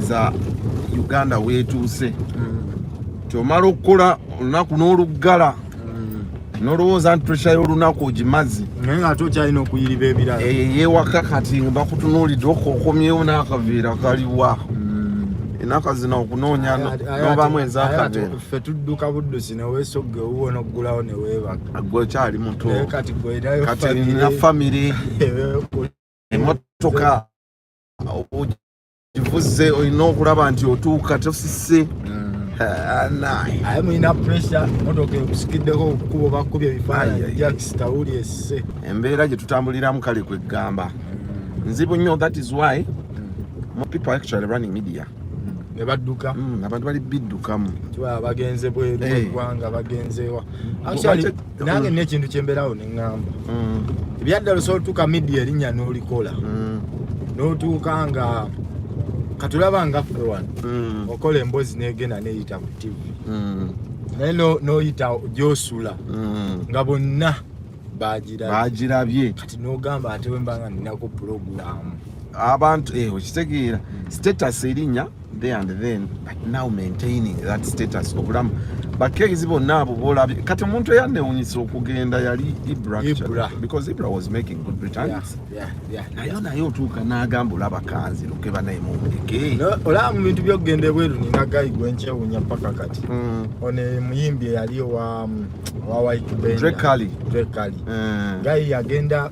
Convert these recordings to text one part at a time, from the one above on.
za uganda wetuuse kyomala mm. okukola olunaku n'oluggala mm. nolowooza nti pressure y'olunaku ogimazi naye nga ate okyalina okuyiriba ebirala eyewaka kati nga bakutunuulidde okomyewo n'akaveera kaliwa enaka zino okunoonya nobamu ezakaffe tudduka buddusi newesogga ewuwo noggulawo newebaka gwe okyali mutokati nina famire emotoka kivuzze olina okulaba nti otuuka tosise aye mulina pressure motoka ekusikiddeko okukuba bakubye ebifaananyi jacks tawuli esse embeera gye tutambuliramu kale kweggamba nzibu nnyo that is why mm. more people actually running media nebadduka mm, abantu bali biddukamu bagenze bweru eggwanga eh. bagenzewa nange nina ekintu kyembeerawo ne ŋŋamba mm. ebyaddala osobola otuuka midia erinnya n'olikola mm. n'otuuka nga katulaba nga ffe wano mm. okola emboozi n'egenda neeyita ku tivi naye n'oyita gyosula nga bonna bagirabye kati n'ogamba ate wemba nga ninaku pulogulaamu abantu eh, okitegeera status erinnya there and then but now maintaining that status obulamu bakezi bonna abo bolabye kati omuntu eyanewunyisa okugenda yali ibra because ibra was making good returns nayo naye otuuka n'agamba olaba kanzi luke banaye mumuleke olaba mu bintu byokugenda ebweru nina gayi gwenkyewunya paka kati hmm. ono muyimbi eyali owa mm, wa white bendrekali gayi yagenda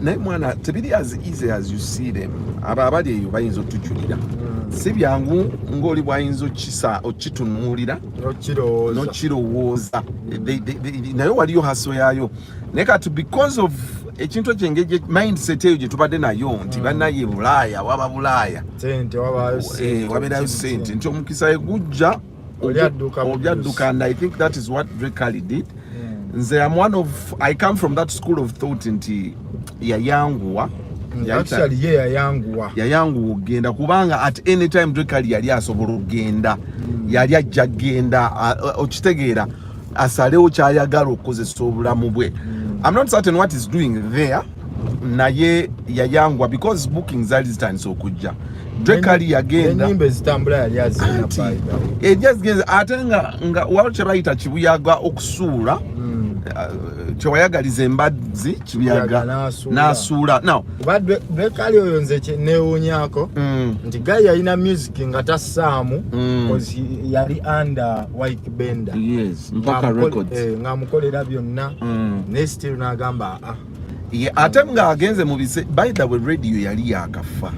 naye mwana tebiri as easy as you see them abo abali eyo bayinza otujulira hmm. si byangu ngaoli bwayinza okisa okitunuulira nokirowooza hmm. naye waliyo haso yaayo naye kati because of ekintu ekyo engeri mindset eyo gyetubadde nayo nti hmm. banaye bulaaya waba bulaaya eh, wabeerayo sente nti omukisa egujja obyadduka and i think that is what drekali did hmm. nze am one of i come from that school of thought nti yayanguwa hmm, yayanguwa yayanguwa okugenda kubanga at any time drekali yali asobola okugenda hmm. yali ajja kugenda okitegeera asalewo kyayagala okukozesa obulamu bwe am not certain what is doing there naye yayangwa because booking zali zitandise okujja drekali yagenda ejazigenze ate nga nga waliwo kyebayita kibuyaga okusuula hmm. uh, kyewayagaliza embazzi kibuyaga nasuula drekali oyo nze newunyako hmm. nti gai yalina music nga tassaamu hmm. yali under white bender ngamukolera eh, byonna naye still nagamba ah, ah. ye ate nga agenze mu bise by the way radio yali yakafa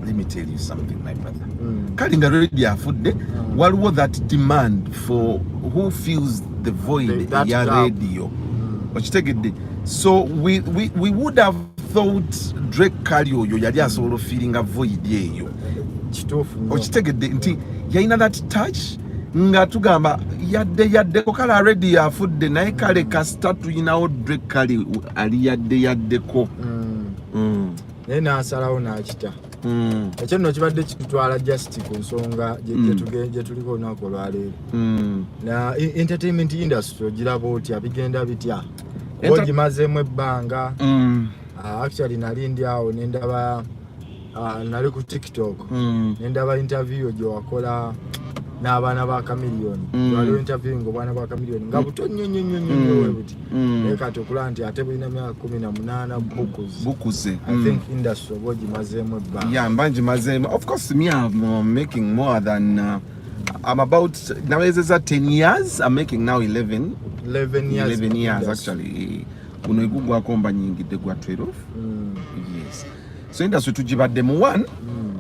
let me tell you something my brother mm. kali nga radio afudde mm. waliwo that demand for who feels the void the, ya radio mm. okitegedde so we, we, we would have thought drake kali oyo yali asobola ofiiringa void eyo okitegedde nti yalina that touch nga tugamba yadde yadde kokala redi yafudde naye kale kasita tulinawo dre kale ali yadde yaddeko mm. mm. naye nasalawo nakita mm. ekyo nno kibadde kitutwala just ku nsonga gyetuliko olunaku olwaleero na entertainment industry ogiraba otya bigenda bitya ogimazeemu ebbanga ah, actually nali ndi awo nendaba Ah, nali ku tiktok mm. nendaba interview gyewakola n'abaana ba kamiliyoni mm. waliwo interview nga obwana bwa kamiliyoni nga buto nnyo nnyo nnyo nnyo mm. webuti mm. naye kati okulaba nti ate bulina myaka kumi na munaana bukuze bukuze i think industry oba ogimazeemu ebbanga ya mba ngimazeemu of course me am uh, making more than uh, I'm about nawezeza 10 years I'm making now 11 11 years, 11 years actually kuno igugwako mba nyingidde gwa 12 mm. so industry tujibadde mu one hmm.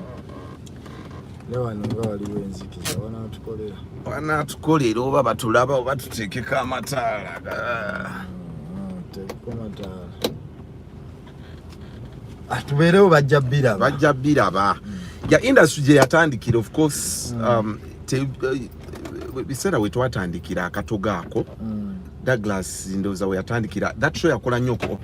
wanatukolera oba batulaba oba tutekeko amataala tubeerewo bajja biraba bajja biraba ya industry gye yatandikira of course mm. um, eh, biseera we twatandikira akatogo ako mm. douglas ndowooza we yatandikira that show yakola nnyo